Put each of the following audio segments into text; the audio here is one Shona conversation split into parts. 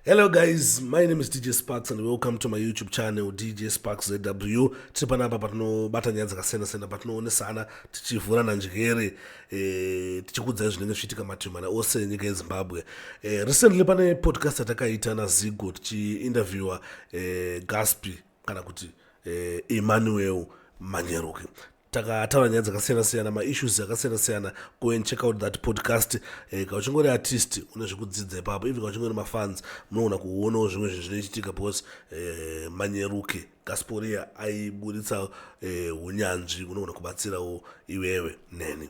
hello guys my name is dj sparks and welcome to my youtube channel dj sparks zw tiri panapa patinobata nyaya dzakasiyana-siyana patinoonesana tichivhurana njere e, tichikudzai zvinenge zvichiitika mativi mana ose enyika yezimbabwe e, recently pane podcast yatakaita nazigo tichiinterviewa e, eh, gaspi kana kuti e, emmanuel manyeruki takataura nyaya dzakasiyana siyana maissues akasiyana siyana go and check out that podcast eh, ka uchingori artist une zvekudzidza ipapo even ka uchingori mafans munoona kuonawo zvimwe zvinhu zvinoitika because eh, manyeruke gasporia aiburitsa eh, unyanzvi eh, unoona kubatsirawo iwewe neni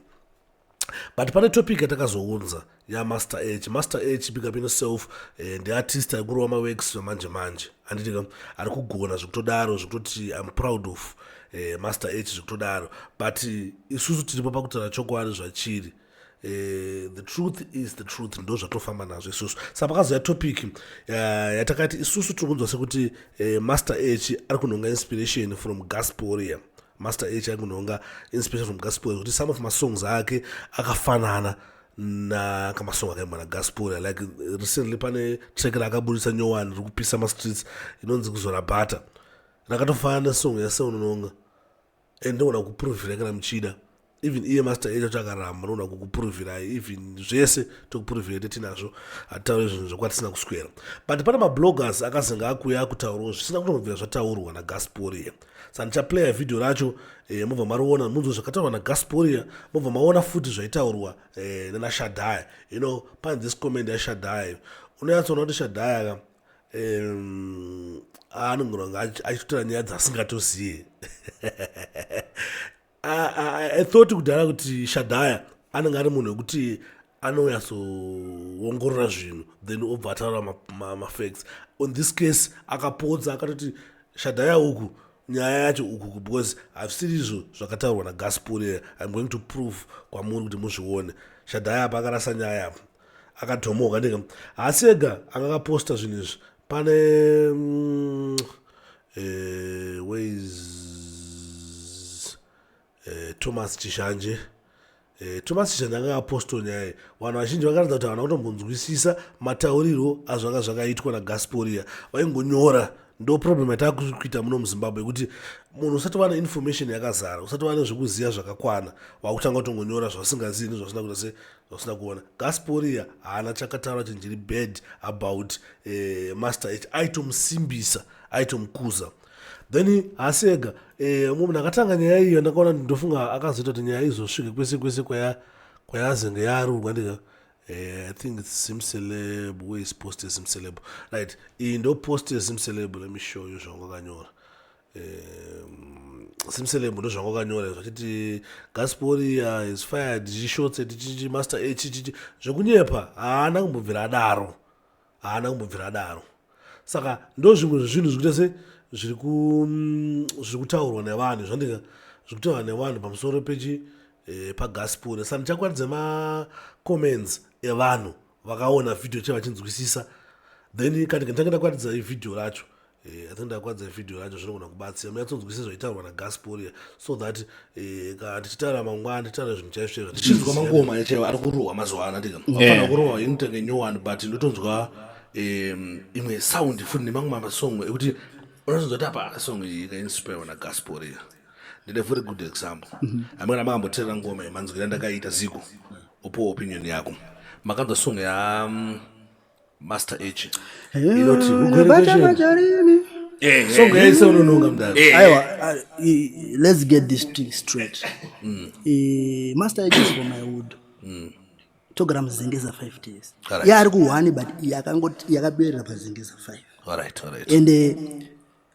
but pane topic yatakazounza yamaster h master h big up in self eh, ndiartist ari kurova maworks vamanje manje handiti ka ari kugona zvekutodaro zvekutoti im proud of eh, master h zvekutodaro but eh, isusu tiripo pakutaura chokwadi zvachiri Eh, the truth is the truth ndo zvatofamba nazvo isusu sa pakazouya topic eh, yatakati isusu tiri kunzwa sekuti eh, master h ari kunhonga inspiration from gasporia master h aikunonga inspiration from gaspol kuti some of masongs ake akafanana nakamasongo akaimba nagaspol like recently pane track raakaburitsa nyowani riri kupisa mastreets inonzi kuzora bhata rakatofanana nesong yaseunononga and ndogona kuprovira kana muchida even iye master echo chakaramba unoda kukupuruvirai even zvese tokupuruvirai tetinazvo hatitaure zvinhu zvekwatisina kuswera but pane mabloggers akazenge akuya akutaurawo zvisina kutombobvira zvataurwa nagasporia sa ndichaplaya vhidhio racho e, mobva mariona munzwa zvakataurwa nagasporia mobva maona futi zvaitaurwa e, eh, nanashadhaya you know pane this comment yashadhaya unonyatsoona kuti shadhaya ka um, anongonanga achitotora nyaya dzasingatoziye i thought kudhara kuti shadhaya anenge ari munhu wekuti anonyatsoongorora zvinhu then obva ataura mafacts ma, ma on this case akapodza akatoti shadhaya uku nyaya yacho uku because hazvisiri izvo zvakataurwa nagaspurera im going to prove kwamuri kuti muzvione shadhaya apa akarasa nyaya apa akadhomoka ndika haasi ega anga akaposta zvinhu izvi pane mm, eh, ways eh, thomas chishanje eh, thomas chishanje anga apostle nyaya vanhu vazhinji vakaratidza kuti havana kutombonzwisisa mataurirwo azvanga zvakaitwa nagasporia vaingonyora ndo problem yatava kuita muno muzimbabwe yekuti munhu usati vana information yakazara usati vane zvekuziva zvakakwana vakutanga kutongonyora zvasingazii nezvasina kuita se zvausina kuona gasporia haana chakataura chinhu chiri bad about eh, master h aitomusimbisa aitomukuza then haasi ega eh, umwe munhu akatanga nyaya iyo ndakaona ndofunga akazoita kuti nyaya izosvike kwese kwese kwayazenge yarurwa ndika eh, i think its simceleb where is post esimceleb right iyi ndo post esimceleb let me show you zvangakanyora Um, simselemo ndozvanga wakanyora zvachiti gasporiya is fired chishotse tichichi master a chichichi zvekunyepa haana kumbobvira adaro haana kumbobvira adaro saka ndo zvimwe zvezvinhu zvikuita se zviri mm, kutaurwa nevanhu zvandika zviri kutaurwa nevanhu pamusoro pechi eh, pagaspori saka ndichakwaridza macomments evanhu vakaona vhidhio chevachinzwisisa then kandika nditanga ndakwaridza ivhidhio racho Eh, I think ndakwadza video yacho zvinogona kubatsira munyatsonzwisisa zvaitaurwa nagasporia so that eh, kana tichitaura mangwana tichitaura zvinhu chaizvo chaizvo ndichinzwa mangoma chaiwo ari kurohwa mazuva ano ndika Yeah. afana kurohwa inotenge new one but ndotonzwa em, imwe sound futi nemamwe mamasong ekuti unotonzwa kuti apa song iyi ikainspirwa nagasporia ndine very good example amene makamboteerera ngoma yemanzwira ndakaita ziko upo opinion yako makanzwa song ya mm, master h inoti ugwerekwezveni eh, eh, songo yaise eh. unononga mudaro aiwa let's get this thing straight mm. master h is for my wood mm. togara muzengeza 5 days yaari kuhwani but yakangoti yakaberera pazengeza 5 and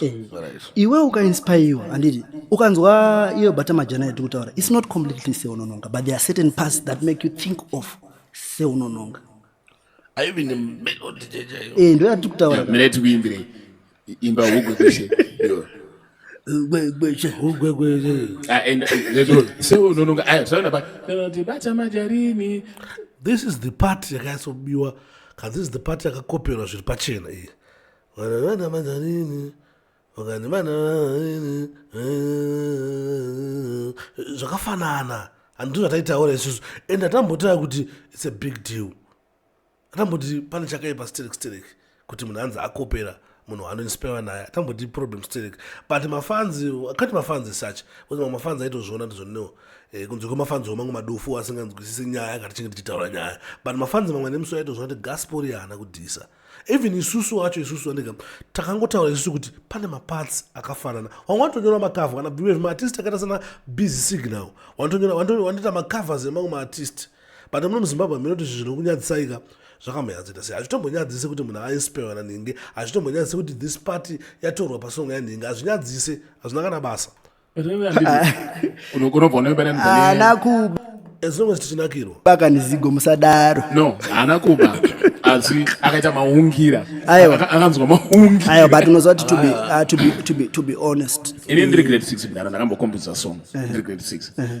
Eh, iwe ukainspaiwa handiti ukanzwa iyo bata majana yatiri kutaura its not completely seunononga but there are certain parts that make you think of seunononga eh, ndo yatiri kutauramiretiuimbire imba hugu dzeshe this is the part yakaisobiwa kan this is the part yakakoperwa zviri pachena iyi Vana vana manjarini vakati vana ini zvakafanana handizvo zvataitaura isusu and atambotaya kuti its a big deal atamboti pane chakaipa sterek sterek kuti munhu anzi akopera munhu waanoinspire naye atamboti problem sterek but mafanzi akati mafanzi such bcause mamwe mafanzi aitozviona ndizvoneo eh, kunze kwemafanzi omangu madufu asinganzwisisi nyaya akati chinge tichitaura nyaya but mafanzi mamwe nemusi aitozviona kuti gaspori yaana kudhisa even isusu wacho isusu andega takangotaura isusu kuti pane maparts akafanana wanga wanotonyora macover kana bhiwe zvemaartist akaita sana busy signal wanotonyora macovers emamwe maartist but muno muzimbabwe hameno kuti zvinhu zvinonyadzisaika zvakamboyadzita sei hazvitombonyadzise kuti munhu ainspirewa nanhinge hazvitombonyadzise kuti this party yatorwa pasongo yanhinge hazvinyadzise hazvina kana basa baka nezigo musadaro no haana kuba asi akaita maungira akanzwa maungira but unoziva kuti to be, uh, to be, to be, to be honest ini ndiri grade six mdara ndakambokombidza song ndiri grade six uh-huh.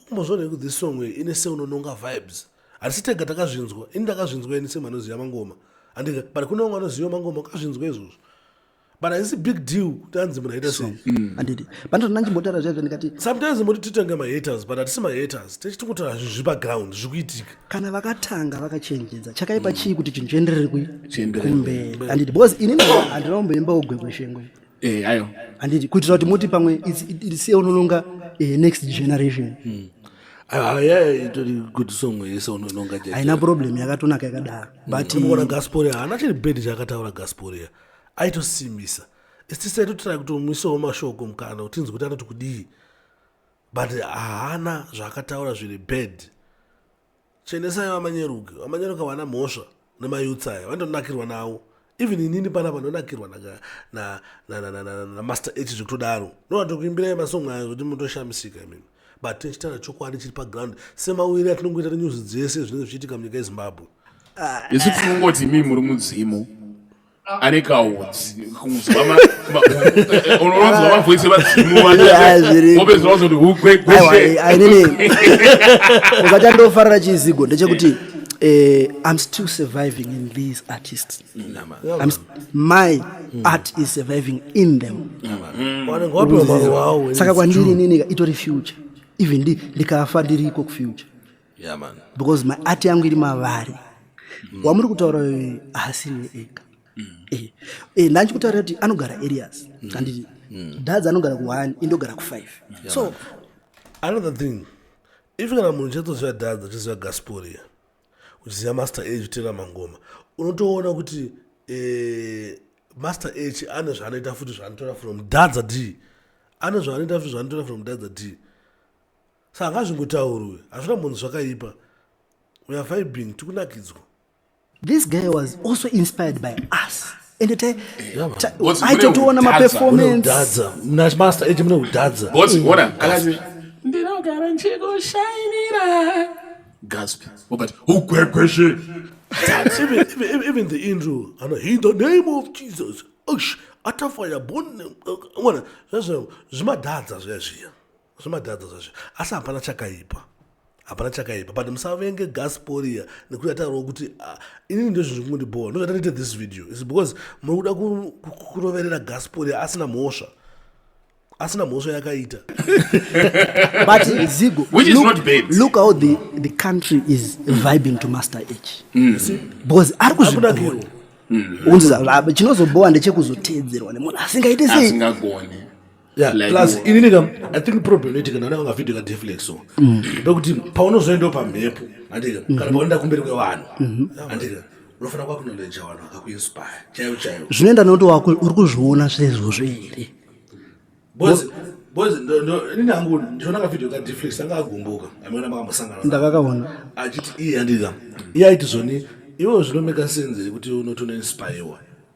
Umbozviona kuti this song iyi ine seunononga vibes. Hatisi tega takazvinzwa. Ini ndakazvinzwa ini same anoziva mangoma. Andika but kune vamwe vanoziva mangoma akazvinzwa izvozvo. But haisi big deal kuti anzi munhu aita sei. Mm. Andidi. But ndona ndimbotaura zvaizvo ndikati sometimes moti titanga ma haters but hatisi ma haters. Tichiti kuti zviri pa ground zviri kuitika. Kana vakatanga vakachenjedza chakaipa mm. chii kuti chinhu chienderere kumberi. Andidi because ini handina kumboimba ugwe kweshengo. eh, ayo handiti kuitira kuti moti pamwe siya unononga eh, next generation hmm. Ah, haina problem yakatonaka yakadaro hmm. butona gasporia haana chiri bedi chaakataura gasporia aitosimisa istisai totirai kutomuisawo mashoko mukana utinzi kuti anoti kudii but haana zvaakataura zviri bad Chenesai vamanyeruke. Vamanyeruke havana mhosva nemayouths aya. Vanonakirwa nawo. Even inini pana vanonakirwa namaster h zvekutodaro. Ndovatokuyimbirai masong ayo zvekuti mutoshamisika imimi. But tichitaura chokwadi chiri paground semawiri atinongoita nenyuzi dzese zvinenge zvichiitika munyika yezimbabwe. Isu tinongoti imimi muri mudzimu. ane kaudzi unonzwa mavoisi vadzimuvaausachandofarira chizigo ndechekuti eh, i'm still surviving in these artists my art is surviving in them saka kwandiri ininika itori future even ndikafa ndiriko kufuture yeah, man. because my art yangu iri mavari mm. wamuri kutaura hasini ega mm. eh, eh, ndanchi kutaura kuti anogara areas mm. anditi mm. dadzi anogara kuone indogara kufive yeah, so man. another thing if kana munhu chatoziva dadzi achiziva gasporia uchiziva master age utera mangoma unotoona kuti eh, master h ane zvaanoita futi zvaanotora from dadza d ane zvaanoita futi zvaanotora from dadza d Saka ngazvingotaurwe hazvina munhu zvakaipa we are vibing tikunakidzwa this guy was also inspired by us ende taitoona maperformancedadza mnamaster age mune kudadza ndinogara ndichikushainira gasp wakati ugwegweshe even the intro ano in the name of jesus atafaya bonwana zvazvo zvimadhadza zviya zviya zvimadhadza zvazvo asi hapana chakaipa hapana chakaipa but musavenge gasporia nekuti atarawo kuti ah, inini ndizvo zviri kundibhowa ndozvatanoita this video is because muri kuda kuroverera gasporia asina mhosva asina mhosva yakaita but zigo look, look how the, the country is vibing to master h mm. because ari kuzvigona mm. chinozobhowa ndechekuzoteedzerwa nemunhu asingaite sei Yeah, like, plus inini kam i think problem iti kana ananga vhidhio ka deflex so mm. pekuti paunozoendawo pamhepo andika mm-hmm. kana paunoenda kumberi kwevanhu mm-hmm. andika unofanira kwakunoleja vanhu vakakuinspire chaivo chaivo zvinoenda nokuti wako uri kuzviona zvezvozvo here inangu ndionaka video ka deflex anga agumbuka ameona makambosangana ndakakaona achiti iye andika iye aiti zvoni iwewo zvinomeka sense yekuti unotonoinspirewa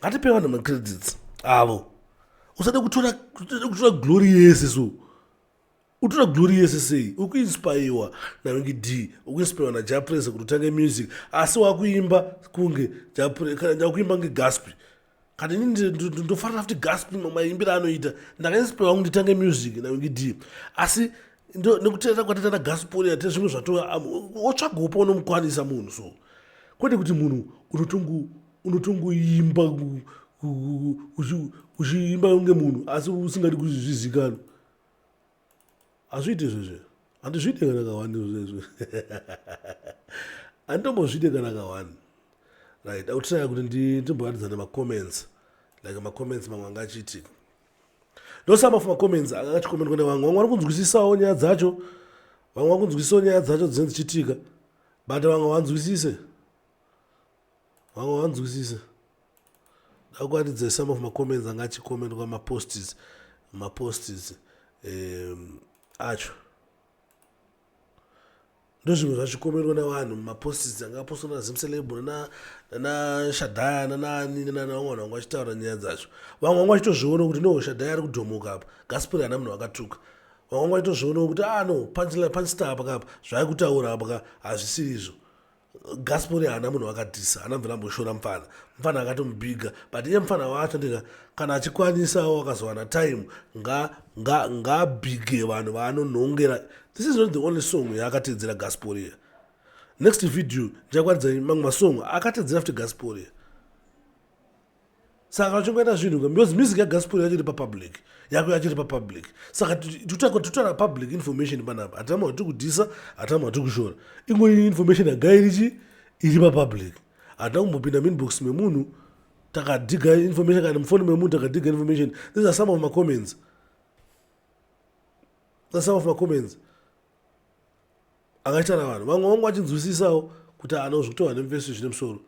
ngatipe vanhu macredits avo usade kutora kutora glory yese so utora glory yese sei ukuinspaiwa nange d ukuinspaiwa najaprese kuti utange music asi wakuimba kunge jakuimba nge gaspi kana ini ndofanira futi gaspi maimbira anoita ndakainspaiwa kunge nditange music nange d asi nekuteera kwatata nagaspori ate zvimwe zvatova wotsvaga upo unomukwanisa munhu so kwete kuti munhu unotongu unotongoimba uchiimba kunge munhu asi usingadi kuzvizikanwa hazviite zvezve handizviite kana kawani zvezve handitombozviite kana kawani right autraya kuti ndimboratidzana macomments like macomments mamwe anga achiitika ndosama for macomments anga achikomentwa nevamwe vamwe vari kunzwisisawo nyaya dzacho vamwe vari kunzwisisawo nyaya dzacho dzinenge dzichiitika but vamwe vanzwisise Vamwe vanzwisisa. Ndakuratidza some of macomments anga achikomentwa maposts maposts um, acho ndozvimwe zvachikomerwa nevanhu mumaposts anga apostwa nazimceleb nanashadhaya nanaani nanavamwe vanhu vanga vachitaura nyaya dzacho vamwe vanga vachitozviona kuti no shadhaya ari kudhomoka apa gasperi hana munhu akatuka vamwe vanga vachitozviona kuti a ah, no panstar pakapa zvaari kutaura apaka hazvisiri izvo gaspori haana munhu wakatisa haana mvira amboshora mfana mfana akatomubhiga but iye mfana wacho ndika kana achikwanisawo akazowana time ngaabhige vanhu vaanonhongera this is not the only song yaakateedzera gaspori next video ndichakwanidzai mamwe masong akateedzera futi gaspori saka uchingoita zvinhu ka because music yagaspuri yacho iri papublic yako yacho iri papublic saka tutaura public information panapa hatama hwatiri kudhisa hatama hwatiri kushora ingo information yaga irichi iri papublic hatina kumbopinda minbox memunhu takadiga information kana mufoni memunhu takadiga information these are some of macomments these are some of macomments akaitana vanhu vamwe vangu vachinzwisisawo kuti haana kuzvikutorwa nemvesi zvine musoro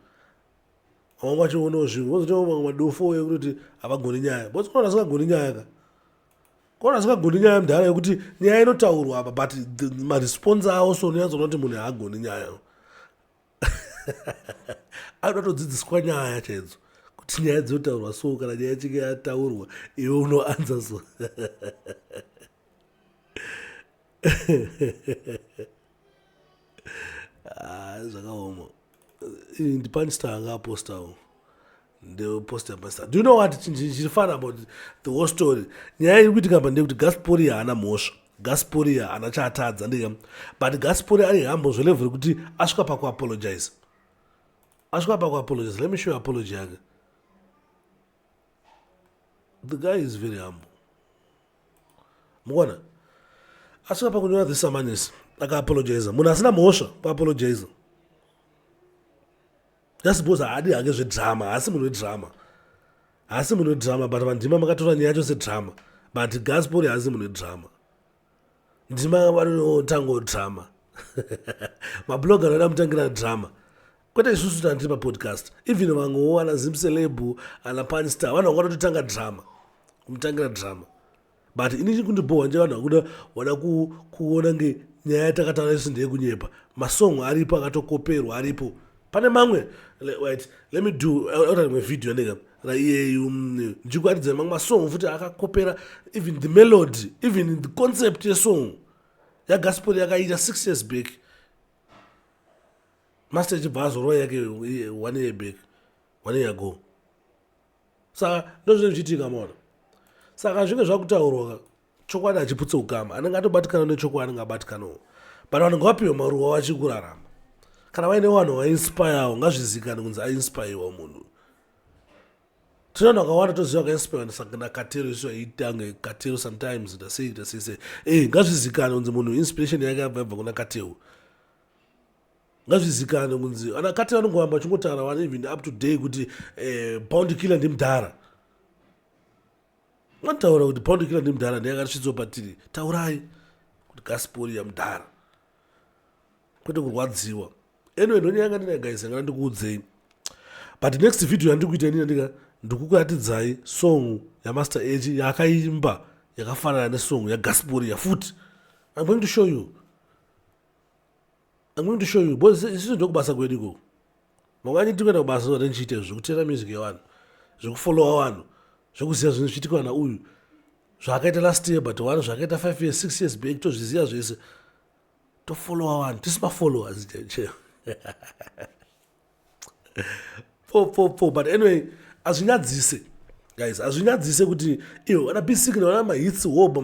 vamwe vangu vachionawo zvimwe vozotiwo mamwe madofo ekutoti havagoni nyaya bcause kona asingagoni nyaya ka kona asingagoni nyaya mudhara yekuti nyaya inotaurwa apa but maresponse awo so nonyatsoona kuti munhu haagoni nyaya anoda todzidziswa nyaya chaidzo kuti nyaya dzinotaurwa so kana nyaya chike yataurwa iwe unoanza so Ah, zvakaoma ndipanista anga apostawo ndeposta pastor do you know what chiri fun about the whole story nyaya iri kuitika pa ndeyekuti gasporia haana mhosva gasporia haana chaatadza ndeyam but gasporia ari hambo zvelevo rekuti asvika pakuapologize asvika pakuapologize let me show apology yake the guy is very humble mukuona asi apa kunyora this amanisi akaapologiza munhu asina mhosva kuapologiza just because haadi hake zvedrama haasi munhu wedrama haasi munhu wedrama but vandima makatora nyaya yacho sedrama but gaspori haasi munhu wedrama ndima vanotanga drama mabloga anoda mutangira drama kwete isusu tana tiri papodcast even vamwewo ana zimselebu ana panstar vanhu vanga vatotanga drama kumutangira drama but ini chiri kundibhohwa nje vanhu vakuda vada kuona nge nyaya yatakataura isu ndeyekunyepa masong aripo akatokoperwa aripo pane mamwe wait let me do ota rimwe video yandika raiyeyu mm, ndikuaridza mamwe masong futi akakopera even the melody even the concept yesong yagaspori yakaita six years back master chibva azorova yake one year back one year ago saka ndozvinenge zvichiitika maona saka zvinge zvakutaurwa chokwadi achiputse ukama anenge atobatikana nechokwadi anenge abatikanawo but vanhu ngavapiwe maruwa vachikurarama kana vaine vanhu vainspirewo ngazvizikane kunzi ainspirewa munhu tine vanhu vakawanda toziva vakainspirewa ndisaknakatero isu aitange katero sometimes ndasei ndasese e eh, ngazvizikane kunzi munhu inspiration yake abva ibva kuna katewu ngazvizikanwe kunzi ana kati vanongoramba vachingotaura vana even up to day kuti eh, bound killer ndimudhara mataura kuti bound killer ndimudhara ndiye akasvitswa patiri taurai kuti gaspori yamudhara kwete kurwadziwa anyway ndonyanga ndina guys angana ndikuudzei but next video yandikuita inini ndika ndikukuratidzai song yamaster age yaakaimba yakafanana nesong yagaspori yafuti i'm going to show you I'm going to show you because isusu ndokubasa kwedu ikoko mangwani tikuenda kubasa zvoda ndichiita izvo zvekuteera music yevanhu zvekufollowa vanhu zvekuziva zvinhu zvichiitikwa na uyu zvaakaita last year but one zvaakaita five years six years back tozviziva zvese tofollowa vanhu tisi mafollowers chaicheo po po po but anyway azvinyadzise guys azvinyadzise kuti iyo vana bisikina vana mahitsi woba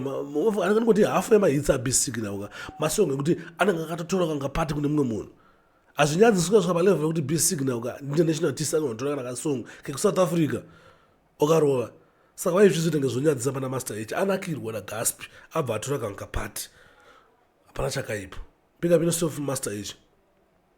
anenge kuti hafu yemahitsi abisikina uka masongo ekuti anenge akatotora kanga pati kune mumwe munhu azvinyadzise ukasvika palevel yekuti bisikina uka international artist anenge anotora kana kasong kekusouth africa okarova saka vai zvizvi tenge zvonyadzisa pana master h anakirwa nagaspi abva atora kanga pati hapana chakaipa pika pinosof master h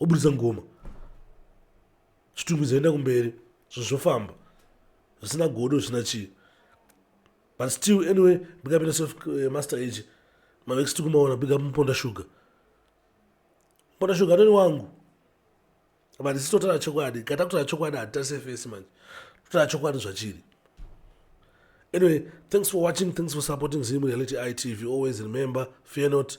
oburitsa ngoma zvitumbi zvoenda kumberi zvinhu zvofamba zvisina godo zvisina chii but still anyway big up inoself eh, master age mavex tiri kumaona big up muponda sugar muponda sugar atoni wangu but isi totaura chokwadi kata kutaura chokwadi hatitarise fesi manje totaura chokwadi zvachiri anyway thanks for watching thanks for supporting zim reality itv always remember fear not